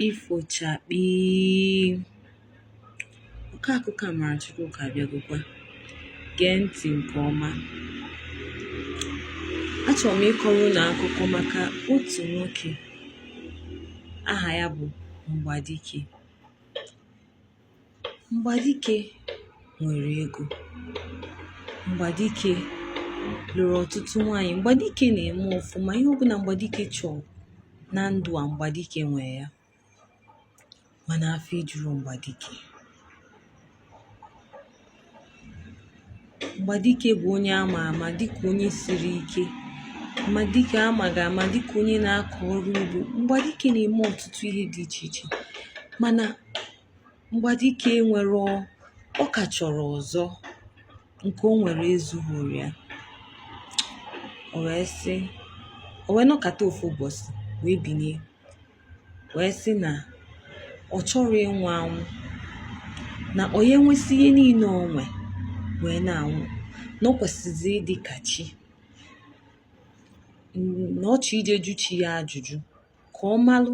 ifochakpi ọkọ akụkọ Amara Chukwuka abịagokwa gee ntị nke ọma achọrọ m ịkọrọ unu akụkọ maka otu nwoke aha ya bụ Mgbadike Mgbadike nwere ego. Mgbadike lụrụ ọtụtụ nwaanyị. Mgbadike na-eme ọfụma. Ihe ọbụla Mgbadike chọọ na ndụ a, Mgbadike nwee ya. Mana afọ ejurọ Mgbadike. Mgbadike bụ onye a ma ama dịka onye siri ike Mgbadike a maga ama dịka onye na-akọ ọrụ ugbo. Mgbadike na-eme ọtụtụ ihe dị iche iche mana Mgbadike nwere ọ ka chọrọ ọzọ nke o nwere ezughịrị ya. O wee sị o wee nọkata ofu ụbọchị wee binie wee sị na ọ chọrọ ịnwụ anwụ na ọ ya enwesị ihe niile o nwe wee na-anwụ na ọ kwesịzi ịdị ka chi na ọ chọ ije jụ chi ya ajụjụ ka ọ malụ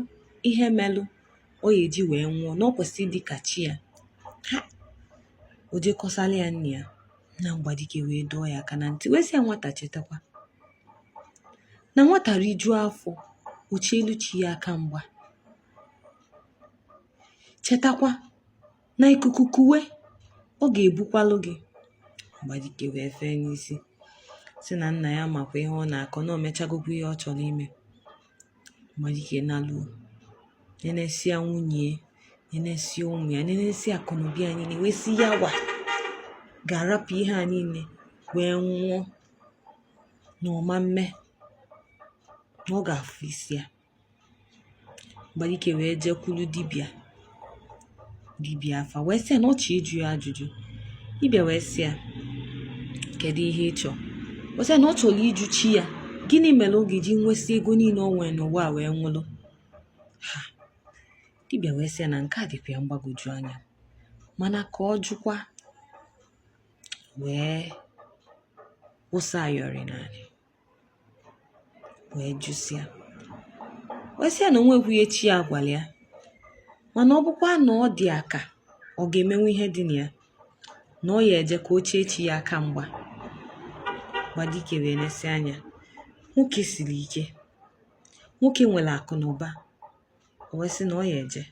ihe melụ ọ ya eji wee nwụọ na ọ kwesị ịdị ka chi ya ha o je kọsala ya nna ya nna Mgbadike wee dọọ ya aka na ntị wee sị ya nwata chetakwa na nwata rijuo afọ o chielu chi ya aka mgba chetakwa na ikuku kuwe ọ ga-ebukwalụ gị Mgbadike wee fee n'isi sị na nna ya makwa ihe ọ na-akọ na o mechagokwa ihe ọ chọrọ ime Mgbadike naluo nenesia nwunye ya nenesia ụmụ ya nenesia akụnụba ya niile wee sị ya wa ga-arapụ ihe a niile wee nwụọ na ọ ma mme na ọ ga-afụ isi ya Mgbadike wee jekwulu dibịa dibịa afa wee sị ya na ọ chọọ ịjụ ya ajụjụ dibịa wee sị ya kedu ihe ị chọọ o sị ya na ọ chọrọ ịjụ chi ya gịnị mere ọ ga-eji nwesị ego niile o nwere n'ụwa a wee nwụrụ ha dibịa wee sị ya na nke a dịkwa ya mgbagwoju anya mana ka ọ jụkwa wee wụsa ayọrị n'anị wee jụsịa wee sị ya na o nweghị ihe chi ya gwara ya mana ọ bụkwa na ọ dị ya ka ọ ga-emenwu ihe dị na ya na ọ ya eje ka o chee chi ya aka mgba Mgbadike wee nesia anya nwoke siri ike nwoke nwere akụ na ụba o wee sị na ọ ya eje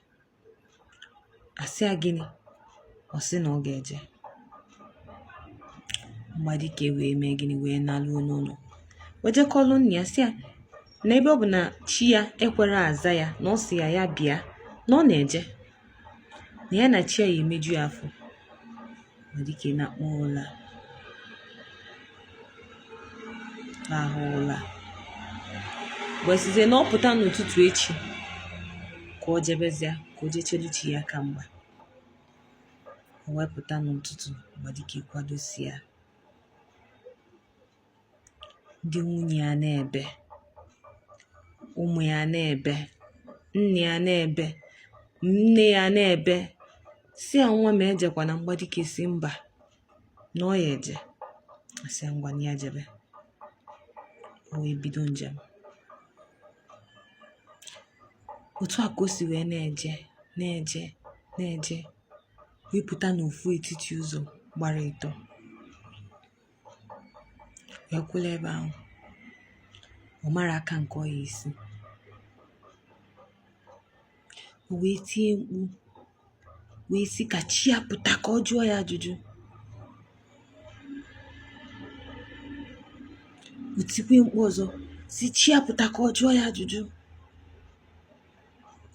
a sị ya gịnị ọ sị na ọ ga-eje mgbadike wee mee gịnị wee naluo n'ụnọ wee jekwulu nna ya sị ya na ebe ọ bụ na chi ya ekwerọ aza ya na ọ sị ya ya bịa na ọ na-eje na ya na chi ya ya-emeju ya afọ mgbadike nakpuo ụla ahụ ụla wee sịzie na ọ pụta n'ụtụtụ echi ka o jebezia ka o jechelu chi ya aka mgba o wee pụta n'ụtụtụ mgbadike kwadosịa ndị nwunye ya na-ebe ụmụ ya na-ebe nna ya na-ebe nne ya na-ebe sị ya nwa m ejekwana mgbadike sị mba na ọ ya-eje a sị ya ngwa ya jebe o wee bido njem otu a ka o si wee na-eje na-eje na-eje wee pụta n'ofu etiti ụzọ gbara ịtọ wee kwụlụ ebe ahụ ọ marọ aka nke ọ ya-esi o wee tie mkpu wee sị ka chi ya pụta ka ọ jụọ ya ajụjụ o tikwe mkpu ọzọ sị chi ya pụta ka ọ jụọ ya ajụjụ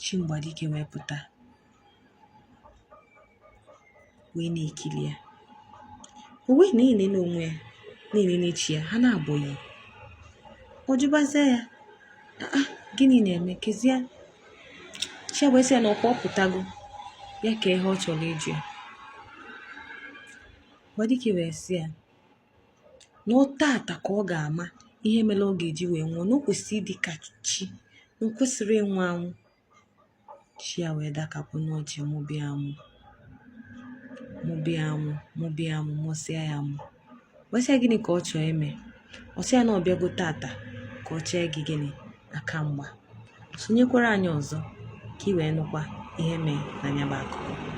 chi mgbadike wee pụta wee na-ekili ya o wee na-enene onwe ya na-enene chi ya ha naabọ yi ọ jụbazie ya aa gịnị na-emekezie chi ya wee sị ya na ọkwa ọ pụtago ya kaa ihe ọ chọrọ ịjụ ya mgbadike wee sị ya na ọ tata ka ọ ga-ama ihe mere ọ ga-eji wee nwụọ na o kwesịrị ịdị ka chi na o kwesịrọ ịnwụ anwụ chi ya wee dakapụ n'ọchị mụbe ya amụ mụbe ya amụ mụbe ya amụ mụsịa ya amụ wee sị ya gịnị ka ọ chọọ ime ọ sị ya na ọ bịago tata ka ọ chee gị gịnị aka mgba sonyekwara anyị ọzọ ka ị wee nụkwa ihe mee na nya bụ akụkọ